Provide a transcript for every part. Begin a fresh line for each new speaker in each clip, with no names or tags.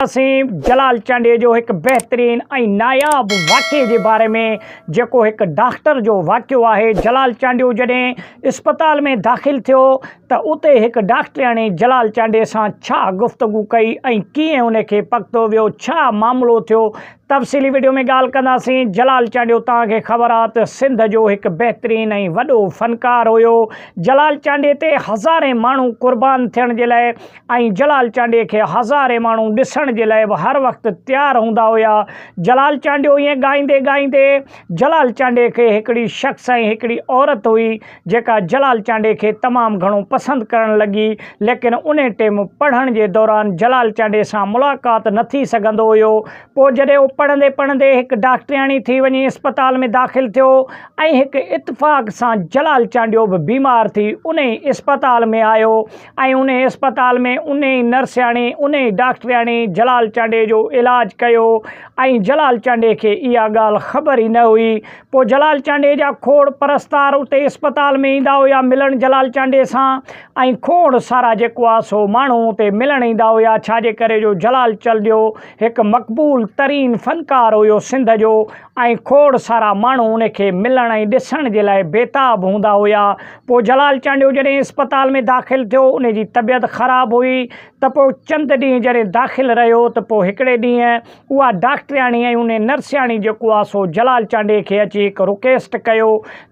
اسين جلال چانڊيي جو هڪ بهترين ۽ ناياب واقعي جي باري ۾ جيڪو هڪ ڊاڪٽر جو واقعو آهي جلال چانڊيو جڏهن اسپتال ۾ داخل ٿيو ته اتي هڪ ڊاڪٽرياڻي جلال چانڊيي سان ڇا گفتگو ڪئي ۽ ڪيئن ان کي پڪتو ويو ڇا معاملو ٿيو تفصيلي وڊيو ۾ ڳالهه ڪنداسين جلال چانڊيو توهان کي خبر آ ته سنڌ جو هڪ بهترين ۽ وڏو فنڪار هيو جلال چانڊيي تي هزارين ماڻهو قربان ٿيڻ جي لاء ۽ جلال چانڊيي کي هزارين ماڻهو ڏسڻ جي لاء به هر وقت تيار هوندا هيا. جلال چانڊيو ائين ڳائيندي ڳائيندي جلال چانڊيي کي هڪڙي شخص ۽ هڪڙي عورت هئي جيڪا جلال چانڊيي کي تمام گهڻو پسند ڪرڻ لڳي ليڪن انهي ٽيم پڙهڻ جي دوران جلال چانڊيي سان ملاقات نه ٿي سگهندو هيو پوء جڏهن هو پڙهندي پڙهندي هڪ ڊاڪٽرياڻي ٿي وڃي اسپتال ۾ داخل ٿيو ۽ هڪ اتفاق سان جلال چانڊيو به بيمار ٿي انهي اسپتال ۾ آيو ۽ انهي اسپتال ۾ انهي نرسياڻي، انهي ڊاڪٽرياڻي جلال چانڊيي جو علاج ڪيو ۽ جلال چانڊيي کي اها ڳالهه خبر ئي نه هئي. پوء جلال چانڊيي جا کوڙ پرستار اتي اسپتال ۾ ايندا هيا ملڻ جلال چانڊيي سان ۽ کوڙ سارا جيڪو آهي سو ماڻهو اتي ملڻ ايندا هيا ڇاجي ڪري جو جلال چلڊيو هڪ مقبول ترين فنڪار هيو سنڌ جو ۽ کوڙ سارا ماڻهو ان کي ملڻ ۽ ڏسڻ جي لاء بيتاب هوندا هيا. پوء جلال چانڊيو جڏهن اسپتال ۾ داخل ٿيو، ان جي طبيعت خراب هئي ته پوء چند ڏينهن جڏهن داخل رهيو ته پوء هڪڙي ڏينهن اها ڊاڪٽرياڻي ۽ ان نرسياڻي جيڪو آ سو جلال چانڊيي کي اچي هڪ رڪيسٽ ڪيو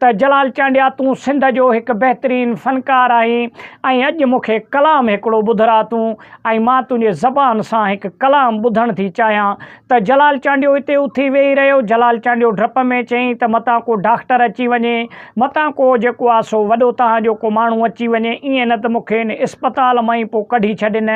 ته جلال چانڊيا تون سنڌ جو هڪ بهترين فنڪار آهين ۽ اڄ مون کي ڪلام هڪڙو ٻڌرا تون ۽ مان تنهنجي زبان سان هڪ ڪلام ٻڌڻ ٿي چاهيان ته جلال چانڊيو اتي اٿي ويهي رهيو. جلال چانڊيو ڊپ ۾ چيائين ته متان ڪو ڊاڪٽر اچي وڃي. متان ڪو جيڪو آ سو وڏو توهان جو ڪو ماڻهو اچي وڃي. ائين نه ته مون کي ان اسپتال مان ئي پوء ڪڍي ڇڏين.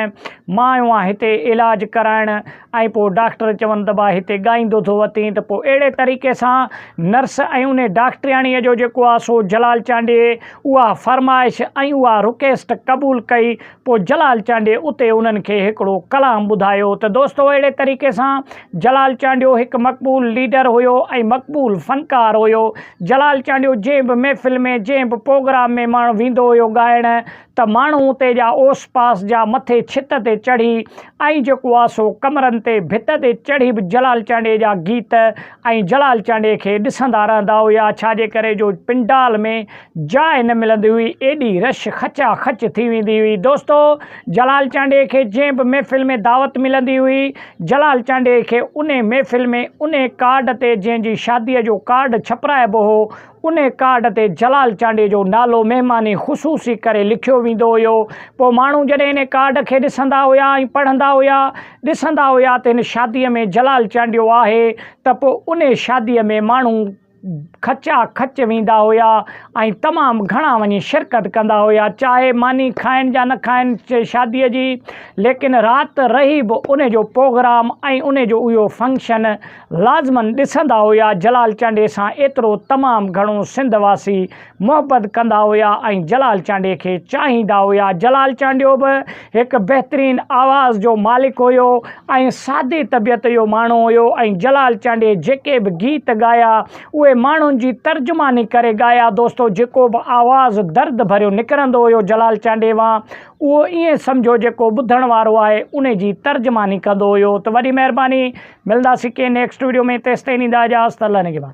مان آيو آهيان هتي علاج ڪرائڻ. ۽ پوء ڊاڪٽر چون ته ڀاء هتي ڳائيندو ٿو وتين ته پوء اهڙي طريقي سان نرس ۽ انهي ڊاڪٽرياڻيء جو جيڪو آ سو جلال چانڊيي اها فرمائش ۽ اها رڪيسٽ قبول ڪئي. پوء جلال چانڊيي اتي انهن کي هڪڙو ڪلام ٻڌايو ته دوستو اهڙي طريقي سان جلال چانڊيو هڪ مقبول ليڊر هيو ۽ مقبول فنڪار هيو. جلال چانڊيو جنهن به محفل ۾ جنهن به پوگرام ۾ ماڻهو ويندو هيو ڳائڻ ته ماڻهو اتي جا اوس پاس جا مٿي ڇت تي چڙهي ۽ جيڪو آ سو ڪمرن تي ڀت تي چڙهي به جلال چانڊيي جا گيت ۽ جلال چانڊيي کي ڏسندا رهندا هيا ڇا جي ڪري جو پنڊال ۾ جاء نه ملندي هئي، ايڏي رش خچا خچ ٿي ويندي هئي. دوستو! جلال چانڊيي کي جنهن به محفل ۾ دعوت ملندي هئي، جلال چانڊيي کي انهي محفل ۾ انهي ڪارڊ تي جنهن جي شاديء جو ڪارڊ ڇپرائبو هو، انهي ڪارڊ تي جلال چانڊيي جو نالو مهمان خصوصي ڪري لکيو ويندو هيو. پوء ماڻهو جڏهن انهي ڪارڊ کي ڏسندا هيا ۽ پڙهندا هيا، ڏسندا هيا ته هن شاديء ۾ جلال چانڊيو آهي ته پوء انهي شاديء ۾ ماڻهو، کچا کچ ويندا هيا ۽ تمام گهڻا وڃي شرڪت ڪندا هيا چاهي ماني کائن جا نه کائن شادي جي ليڪن رات رهي به ان جو پوگرام ۽ ان جو اهو فنڪشن لازمن ڏسندا هيا جلال چانڊيي سان ايترو تمام گهڻو سنڌ واسي محبت ڪندا هيا ۽ جلال چانڊيي کي چاهيندا هيا. جلال چانڊيو به هڪ بهترين آواز جو مالڪ هيو ۽ سادي طبيعت جو ماڻهو هيو ۽ جلال چانڊيي جيڪي به گيت ڳايا اهي ماڻهن جي ترجماني ڪري ڳايا دوستو جيڪو به آواز درد ڀريو نڪرندو هيو جلال چانڊيي وان اهو ائين سمجهو جيڪو ٻڌڻ وارو آهي انهي جي ترجماني ڪندو هيو ته وڏي مهرباني ملنداسين ڪنهن نيڪسٽ ويڊيو ۾ تيستائين ڏيندا اجازت الله نگهبان.